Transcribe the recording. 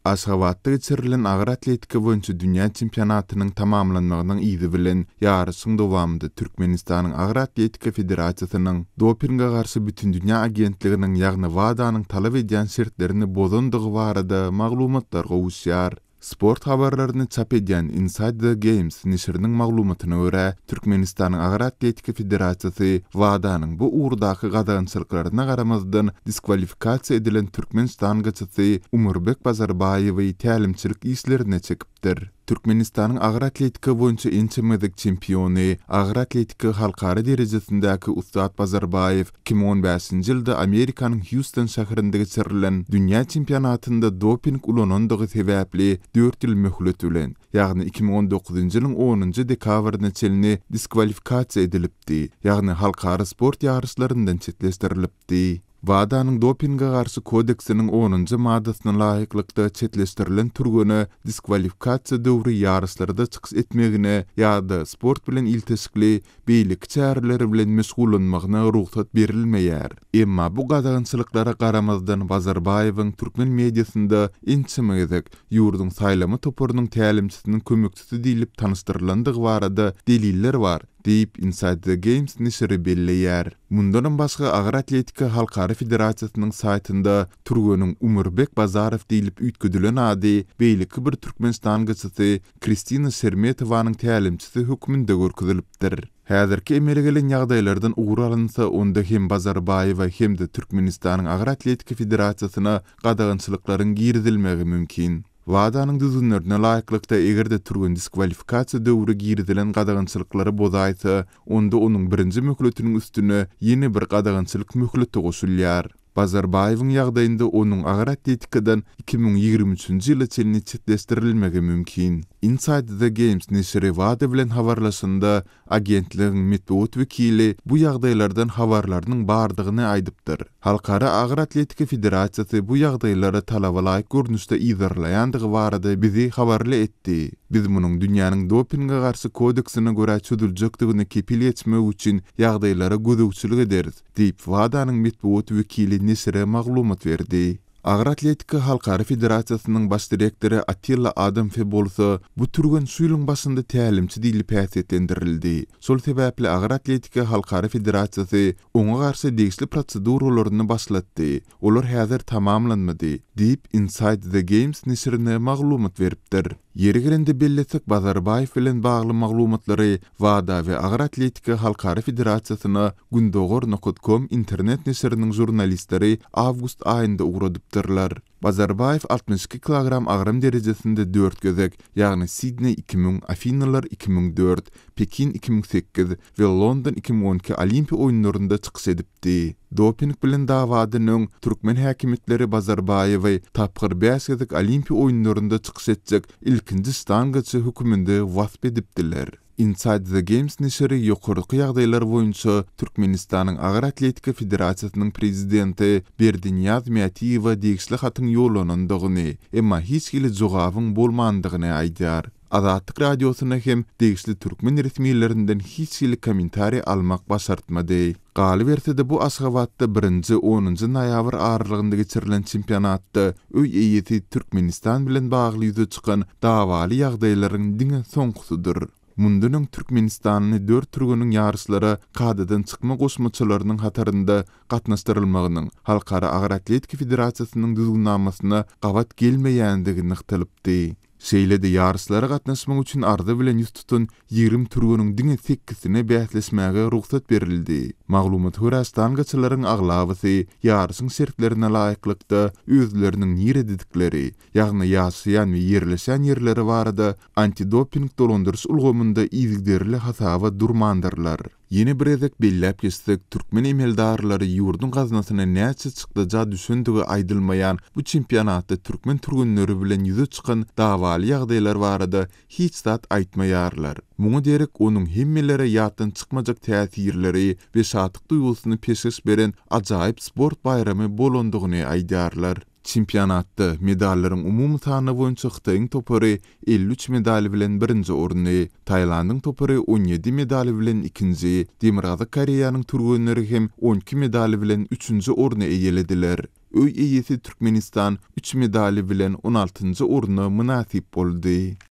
Aşgabatda geçirilen agyr atletika boýunça dünýä çempionatynyň tamamlanmagynyň yzy bilen, ýaryşyň dowamynda Türkmenistanyň Agyr atletika federasiýasynyň Dopinge garşy bütindünýä agentliginiň, ýagny WADA-nyň talap edýän şertlerini bozandygy barada maglumatlar gowuşýar. Sport habarlaryny çap edýän Inside the Games neşiriniň maglumatyna görä, Türkmenistanyň Agyr atletika federasiýasy WADA-nyň bu ugurdaky gadagançylyklaryna garamazdan diskwalifikasiýa edilen türkmen ştangaçysy Umurbek Bazarbaýewi tälimçilik işlerine çekipdir. Türkmenistanyň agyr atletika boýunça ençeme gezek çempiony, agyr atletika halkara derejesindäki ussat Bazarbaýew iki müň on bäşinji ýylda Amerikanyň Hýuston şäherinde geçirilen dünýä çempionatynda doping ulanandygy sebäpli dört ýyl möhlet bilen, ýagny iki müň on dokuzynjy ýylyň onunjy dekabryna çenli diskwalifikasiýa edilipdi, ýagny halkara sport ýaryşlaryndan çetleşdirilipdi. WADA-nyň Dopinge garşy kodeksiniň onunjy maddasyna laýyklykda çetleşdirilen türgene diskwalifikasiýa döwri ýaryşlarda çykyş etmegine ýa-da sport bilen ilteşikli beýleki çäreler bilen meşgullanmagyna rugsat berilmeýär. Emma bu gadagançylyklara garamazdan Bazarbaýewiň türkmen mediasynda ençeme gezek ýurduň saýlama toparynyň tälimçisiniň kömekçisi diýlip tanyşdyrylandygy barada deliller bar, diýip, Inside the Games neşiri belleýär. Mundanam başga, Agyr atletika halkara federasiýasynyň saýtynda türgeniň Umurbek Bazarow diýlip üýtgedilen ady beýleki bir türkmen ştangaçysy Kristina Şermetowanyň tälimçisi hökmünde görkezilipdir. Häzirki emele gelen ýagdaýlardan ugur alynsa, onda hem Bazarbaýewa hem-de Türkmenistanyň Agyr atletika federasiýasyna gadagançylyklaryň girizilmegi mümkin. WADA-nyň düzgünlerine laýyklykda, eger-de türgen diskwalifikasiýa döwri girizilen gadagançylyklary bozaýsa, onda onuň birinji möhletiniň üstüne ýene bir gadagançylyk möhleti goşulýar. Bazarbaýewiň ýagdaýynda onuň agyr atletikadan iki müň ýigrimi üçünji ýyla çenli çetleşdirilmegi mümkin. Inside the Games neşiri WADA bilen habarlaşanda, agentligiň metbugat wekili bu ýagdaýlardan habarlarynyň bardygyny aýdypdyr. Halkara agyr atletika federasiýasy bu ýagdaýlary talaba laýyk görnüşde yzarlaýandygy barada bizi habarly etdi. Biz munuň dünýäniň dopinge garşy kodeksine görä çözüljekdigine kepil geçmek üçin ýagdaýlara gözegçilik ederis. diýip, WADA-nyň metbugat wekili neşire maglumat berdi. Agyr atletika halkara federasiýasynyň baş direktory Attila Adamfe bolsa, bu türgen şu ýylyň başynda tälimçi diýlip häsiýetlendirildi. Şol sebäpli Agyr atletika halkara federasiýasy oňa garşy degişli proseduralaryny başlatdy. Olar häzir tamamlanmady, diýip, Inside the Games neşirine maglumat beripdir. Ýeri gelende bellesek, Bazarbaýew bilen bagly maglumatlary WADA we Agyr atletika halkara federasiýasyna Gündogar. Com internet neşiriniň žurnalistleri awgust aýynda ugradypdyrlar. Bazarbaýew altmyş iki kilogram agram derejesinde dört gezek, ýagny Sidneý iki müň, Afinalar iki müň dört, Pekin iki müň sekiz, we London iki müň on iki Olimpiýa oýunlarynda çykyş edipdi. Doping bilen dawadan öň, türkmen häkimiýetleri Bazarbaýewi tapgyr bäş gezek Olimpiýa oýunlarynda çykyş etjek ilkinji ştangaçy höküminde wasp edipdiler. Inside the Games neşiri ýokarky ýagdaýlar boýunça Türkmenistanyň Agyr atletika federasiýasynyň prezidenti Berdiniýaz Mätiýewe degişli hatyň ýollanandygyny, emma hiç hili jogabyň bolmandygyny aýdýar. Azatlyk Radiosyna hem degişli türkmen resmilerinden hiç hili kommentariý almak başartmady. Galyberse-de bu Aşgabatda birinji, onunjy noýabr aralygynda geçirilen çempionatda öý eýesi Türkmenistan bilen bagly ýüze çykan dawaly ýagdaýlaryň diňe soňkusydyr. Mundan öň türkmenistanly dört türgeniň ýaryşlara kadadan çykma goşmaçalarynyň hatarynda gatnaşdyrylmagynyň Halkara agyr atletika federasiýasynyň düzgünnamasyna gabat gelmeýändigi nygtalypdy. Şeýle-de ýaryşlara gatnaşmak üçin arza bilen ýüz tutan ýigrimi türgeniň diňe sekizsine bäsleşmäge rugsat berildi. Maglumat görä, stangaçylaryň aglabasy ýaryşyň şertlerine laýyklykda özleriniň nirededikleri, ýagny ýaşaýan we ýerleşen ýerleri barada antidoping dolandyryş ulgamynda yzygiderli hasaba durmandyrlar. Ýene bir gezek belläp geçsek, türkmen emeldarlary ýurduň gaznasyna näçe çykdaja düşendigi aýdylmaýan bu çempionatda türkmen türgenleri bilen ýüze çykan dawaly ýagdaýlar barada hiç zat aýtmaýarlar. Muňa derek onuň hemmelere ýatdan çykmajak täsirleri we şatlyk duýgusyny peşgeş beren ajaýyp sport baýramy bolandygyny aýdarlar. Çempionatda medallaryň umumy sany boýunça Hytaýyň topary elli üç medal bilen birinji orny, Tailandyň topary on ýedi medal bilen ikinji, Demirgazyk Koreýanyň türgenleri hem on iki medal bilen üçünji orny eýelediler. Öý eýesi Türkmenistan üç medaly bilen on altynjy orna mynasyp boldy.